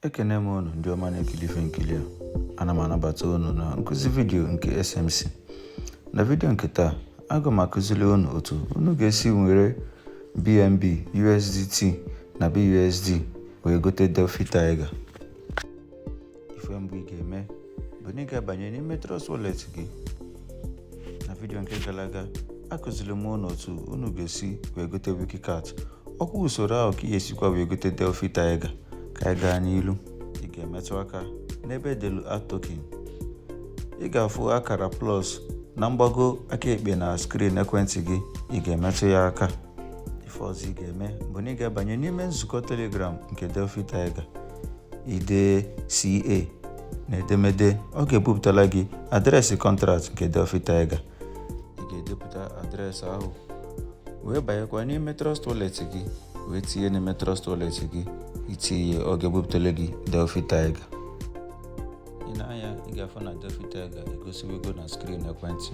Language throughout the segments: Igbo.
Ekene m unu ndị ọma na-ekili ife nkiri a ana m anabata unu na nkụzi vidiyo nke SMC na vidiyo nke taa aga m akụzili unu otu unu ga-esi were BNB USDT na BUSD wee gote Defi Tiger ife mbụ ị ga-eme Bụ na ị ga-abanye n'ime Trust Wallet gị. Na vidiyo nke gala aga, akụzili m unu otu unu ga-esi wee gote Wikicat. Ọkwa usoro ahụ ka ị ga-esikwa wee gote Defi Tiger ka anyị gaa n'ilu. Ị ga-emetụ aka n'ebe edelu Add Token. Ị ga-afụ akara plus na mgbago aka ekpe na skrin ekwentị gị, ị ga-emetụ ya aka. ife ọzọ ị ga-eme bụ na ị ga-abanye n'ime nzukọ Telegram nke Defi Tiger ide CA na edemede ọ ga-ebupụtala gị adreesị kọntraktị nke Defi Tiger ị ga-edepụta adreesị ahụ wee banyekwa n'ime Trust Wallet gị wee tinye n'ime Trust Wallet gị itinye ọ ga-ebupụtala gị Defi Tiger i nee anya ị ga-afụ na Defi Tiger egosiwego na skrin ekwentị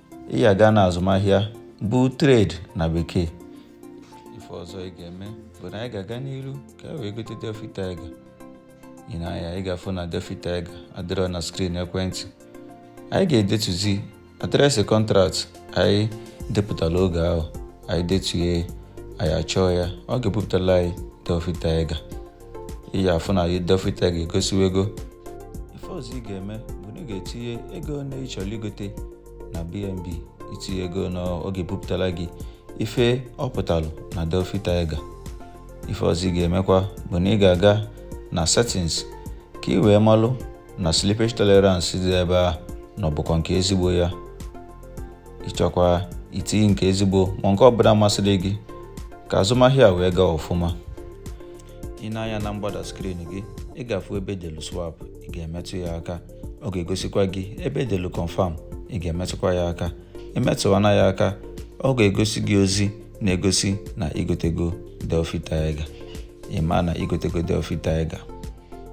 ị ya-aga na azụmahịa bụ trade na bekee ife ọzọ ị ga-eme bụ na anyị ga-aga n'iru ka e wee gote Defi Tiger i nee anya ị ga-afụ na Defi Tiger adịrọ na skrin ekwentị anyị ga-edetuzi adreesị kọntraktị anyị depụtara oge ahụ anyị detuye anyị achọọ ya ọ ga-ebupụtala anyị Defi Tiger ị ya-afụ na Defi Tiger egosiwego ife ọzọ ị ga-eme bụ na ị ga-etinye ego one ị chọlụ igote na BNB itinye ego na ọ ga-ebupụtala gị ife ọ pụtalụ na Defi Tiger ife ọzọ ị ga-emekwa bụ na ị ga-aga na settings ka ị wee malụ na slippage tolerance dị ebe a na ọ bụkwa nke ezigbo ya ịchọkwa itinye nke ezigbo ma nke ọbụla masịrị gị ka azụmahịa wee gaa ọfụma i nee anya na mgbada skrin gị ị ga-afụ ebe edelu swap ị ga-emetụ ya aka ọ ga-egosikwa gị ebe edelu confirm ị ga-emetụkwa ya aka emetụwana ya aka ọ ga-egosi gị ozi na-egosi na igotego Defi Tiger ị ma na igotego Defi Tiger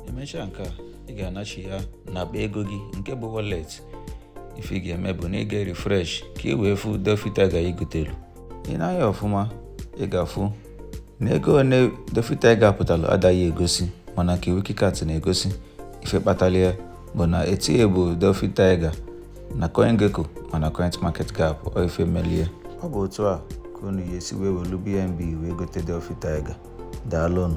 emechaa nke a ị ga-anachi ya n'akpa ego gị nke bụ wallet ife ị ga-eme bụ na ị ga refresh ka ị wee fụ Defi Tiger igotelu i nee anya ọfụma ị ga-afụ na ego one Defi Tiger pụtalụ adaghị egosi mana nke Wikicat na-egosi ife kpatalụ ya bụ na etinye bụ Defi Tiger na CoinGecko ma na CoinMarketCap ọ ife melie ọ bụ otu a ka unu ya-esi wee welu BNB wee gote Defi Tiger daalụnụ